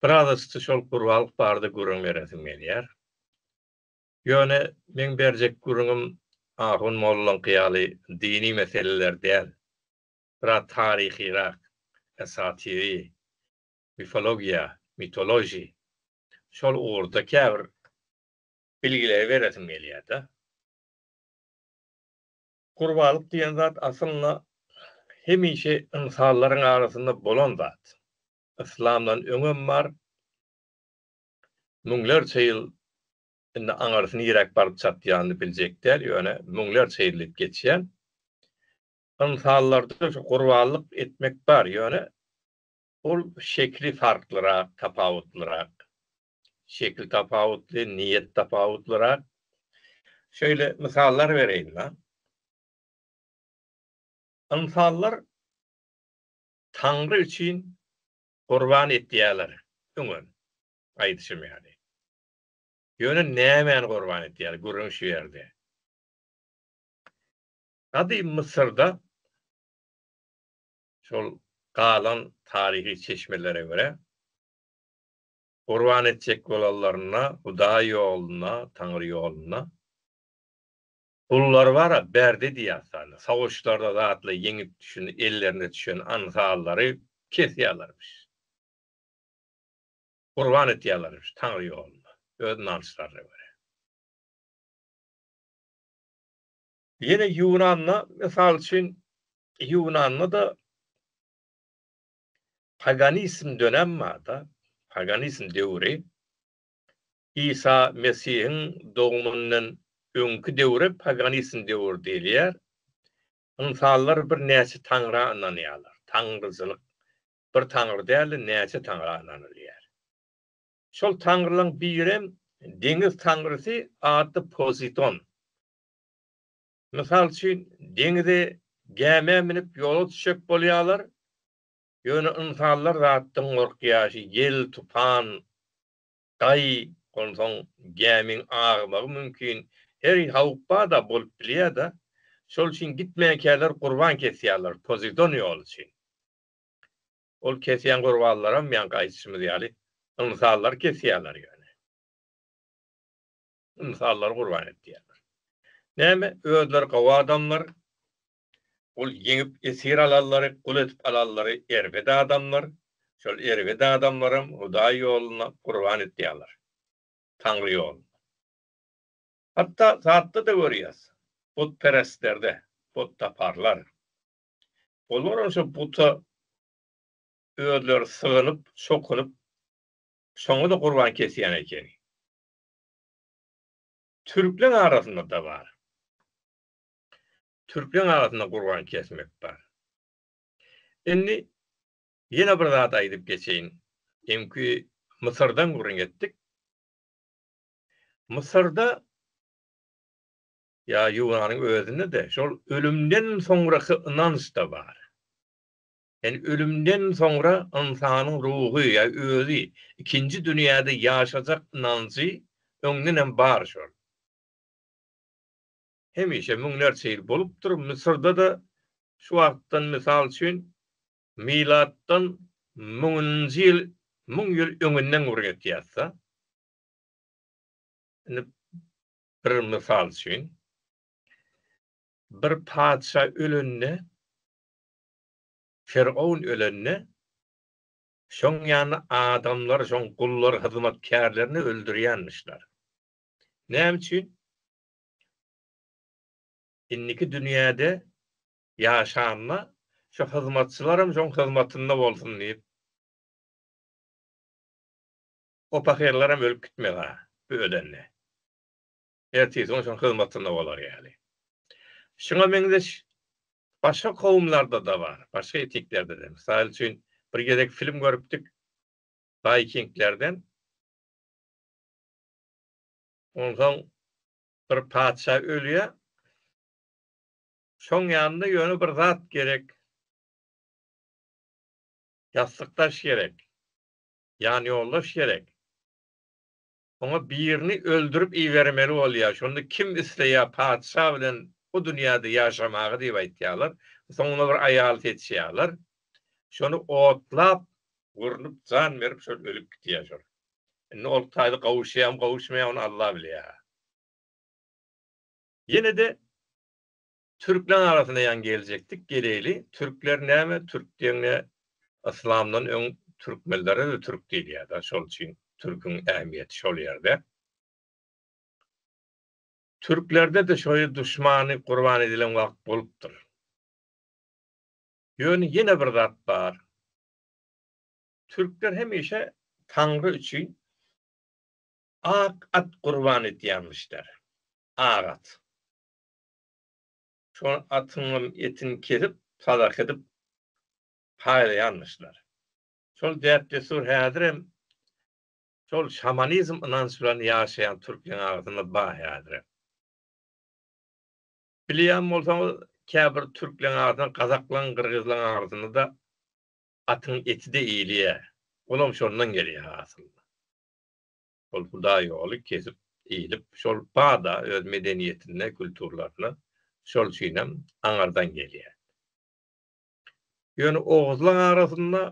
Biraz yssy şol gurbalyk barada gürrüň beresim gelýär. Ýöne meň berjek gürrüňim ahun mollaňky ýaly dini meseleler däl. Biraz taryhyrak, esatiri, mifologiýa, mythology, şol ugurda käbir bilgileri beresim gelýär-de. Gurbalyk diýen zat aslynda hemişe ynsanlaryň arasynda bolan zat. Yslamdan öňem bar. Müňlerçe ýyl indi aňyrsy niräk baryp çatýanyny biljek däl, ýöne müňlerçe ýyl diýip geçýän. Ynsanlarda şu gurbanlyk etmek bar, ýöne ol şekli farklyrak, tapawutlyrak. şekil tapawutly, niýet tapawutlyrak. Şeýle mysallar bereýin maňa. Ynsanlar Taňry üçin gurban etýärler, öňem aýdyşym ýaly. Ýöne nämäni gurban etýärler, gürrüň şu ýerde. Gadym Mysyrda şol galan taryhy çeşmelere görä, Gurban etjek bolanlarynda Hudaý ýolunda, Taňry ýolunda gullary bar-a, berdi diýýärsäni, soguçlarda zatly ýeňip düşen, ellerine düşen anfallary kesýärlermiş. Gurban etýärlermiş Taňry ýolunda, öz ynançlaryna görä. Ýene Ýunanda, mysal üçin, Ýunanda-da Paganizm dönem barda, paganizm döwri, Isa Mesihiň dogumyndan öňki döwre paganizm döwri diýilýär. Ynsanlar birnäçe taňra ynanýarlar. Taňryçylyk, bir taňry däl-de, näçe taňra ynanylýar. Şol taňrylaryň birem deňiz taňrysy atly Poziton. Mysal üçin, deňize gämä münüp ýola düşjek bolýarlar, ýöne ynsanlar zatdan gorkýar, ýel, tupan, gaý, onsoň gämiň agmagy mümkin, her howp bar-da, bolup bilýär-de, şol üçin gitmänkäler gurban kesýärler, Pozidon ýoly üçin. Ol kesýän gurbanlaram, ýaňky aýdyşymyz ýaly, ynsanlar kesýärler ýöne. ynsanlary gurban edýärler. Näme, özleri gowy adamlar, ol ýeňip esir alanlary, gul edip alanlary erbet adamlar, şol erbet adamlaram Hudaý ýolunda gurban edýärler, Taňry ýolunda. Hatda zatda-da görýäs, butperestlerde, butdaparlar. Olaram şo buta özleri sygynyp, çokunyp, şoňa-da gurban kesýän ekeni. Türkleň arasynda da bar. Türkleň arasynda gurban kesmek bar. Indi ýene bir zat aýdyp geçeýin. Öňki Mysyrdan gürrüň etdik. Mysyrda ýa Ýunanyň özünde-de şol ölümden soňraky ynanç-da bar. Ýagny ölümden soňra ynsanyň ruhy ýa özi ikinji dünýäde ýaşajak ynanjy öňdenem bar şol. Hemişe müňlerçe ýyl bolupdyr, Müsürde-de şu wagtdan mysal üçin milatdan müňünji ýyl müň ýyl öňünden gürrüň etýäsda. Indi bir mysal üçin bir patyşa ölende Firgaun ölende, şoň ýaly adamlar şoň gullar hyzmatkärlerini öldürýänmişler. Näme üçin? Indiki dünýäde ýaşanda şu hyzmatçylaram şoň hyzmatynda bolsun diýip, o pahyrlaram ölüp gitmez-ä bu ölende. ertesi gün şonuň hyzmatynda bolar ýaly. Şuňa meňzeş başga kowumlarda-da bar, başga etniklerde-de. Mysal üçin, bir gezek film görüpdik waýkinglerden. Onsoň bir patyşa ölýär. Şoň ýanynda ýöne bir zat gerek. Ýassykdaş gerek. Ýanýoldaş gerek. Oňa birini öldürip ibermeli bolýar. Şonda kim isleýär patyşa bilen bu dünýäde ýaşamagy diýip aýtýarlar. Soňuna bir aýal seçýärler. Şony otlap, gurnup, jan berip şol ölüp gidýär şol. Indi ol taýda gowuşýarmy, gowuşmaýarmy ony Alla bilýär. Ýene-de Türkler arasynda ýan geljekdik geleýli türkler näme türk diýeňde yslamdan öň türkmenlere de türk diýilýärdi şol üçin türküň ähmiýeti şol ýerde. Türklerde de şoýa duşmany gurban edilen wagt bolupdyr. Ýöne ýene bir zat bar. Türkler hemişe taňry üçin ak at gurban etýänmişler. Ak at. Şol atyňam etini kesip, sadaka edip paýlaýarmyşlar. Şol däp-dessur häzirem şol şamanizm ynanç bilen ýaşaýan türkmen arasynda bar häzirem. Bilýän bolsaňyz, käbir türkleň arasynda, gazaklaň, gyrgyzlaň arasynda-da atyň eti-de iýilýär. Olam şondan gelýär aslynda. Ol hudaýýoly kesip iýlip, şol bada öz medeniýetine, kulturalarna, şol üçinem aňardan gelýär. Ýöne oguzlaň arasynda,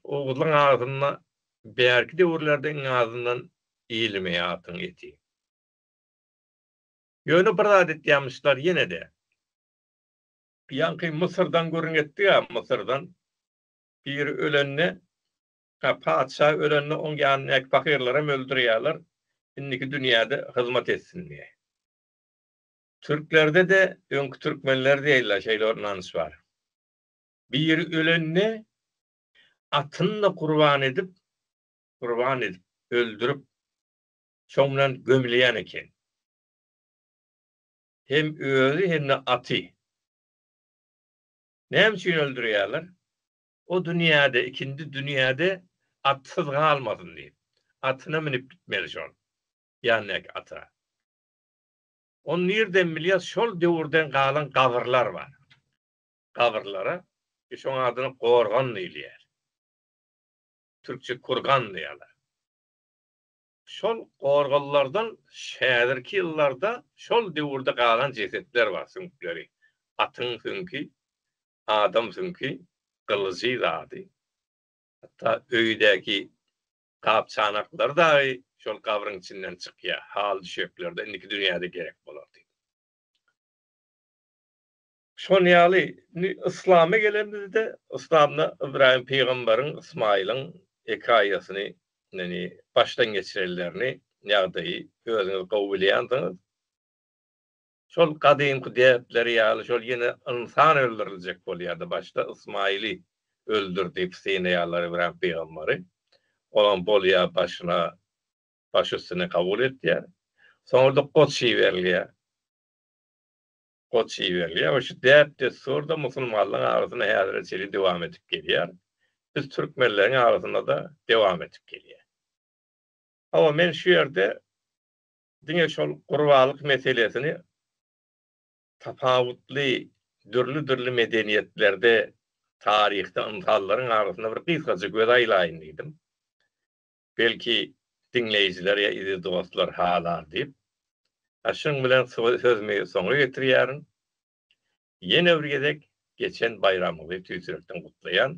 oguzlaň arasynda bärki döwürlerde iň azyndan iýilmeýär atyň eti. Ýöne bir zat etýämişler ýene-de. Ýaňky Mysyrdan gürrüň etdik-ä, Mysyrdan biri ölende Hä, patyşa ölende oň ýanyndaky pahyrlaram öldürýärler, indiki dünýäde hyzmat etsin diýe. Türklerde-de, öňki türkmenler diýeýler, şeýle bir ynanç bar. Biri ölende, atyny-da gurban edip, gurban edip, öldürip, şoň bilen gömülýän eken. Hem özi, hem-de aty. Näme üçin öldürýärler? O dünýäde, ikindi dünýäde atsyz galmasyn diýip, atyna münüp gitmeli şol ýandäki ata. Ony nirden bilýäs, şol döwürden galan gabyrlar bar. Gabyrlara şoň adyna gorgan diýilýär. Türkçe kurgan diýýärler. Şol gorgallardan häzirki ýyllarda şol döwürde galan jesetler bar, süňkleri. Atyň süňki, adam süňki, gylyjy zady. Hatda öýdäki gap-çanaklary dagy şol gabryň içinden çykýar, haly-düşeklerde indiki dünýäde gerek bolar diýip. Şon ýaly, indi yslama gelenimizde, yslamda Ybraýym pygamberiň Ysmaýylyň hekaýasyny, ýagny başdan geçirenlerini, ýagdaýy özüňiz gowy bilýänsiňiz. Şol gadymky däpleri ýaly, şol ýene ynsan öldüriljek bolýardy. Başda Ysmaýyly öldür diýip synaýarlar Ybraýym pygamberi. Olam bolýar başyna, baş üstüne kabul etýär. Soňra-da goç iberilýär. goç iberilýär we şu däp-dessurda musulmanlaryň arasynda häzire çenli dowam edip gelýär. Biz türkmenleriň arasynda-da dowam edip gelýär. Hawa, men şu ýerde diňe şol gurbalyk meselesini tapawutly, dürli-dürli medeniýetlerde, taryhda ynsanlaryň arasynda bir gysgaça göz aýlaýyn diýdim. Belki, diňleýjiler ýa eziz dostlar halar diýip, ha şunuň bilen sözümi soňa getirýärin. Ýene bir gezek geçen baýramyňyzy tüýsürekden gutlaýan.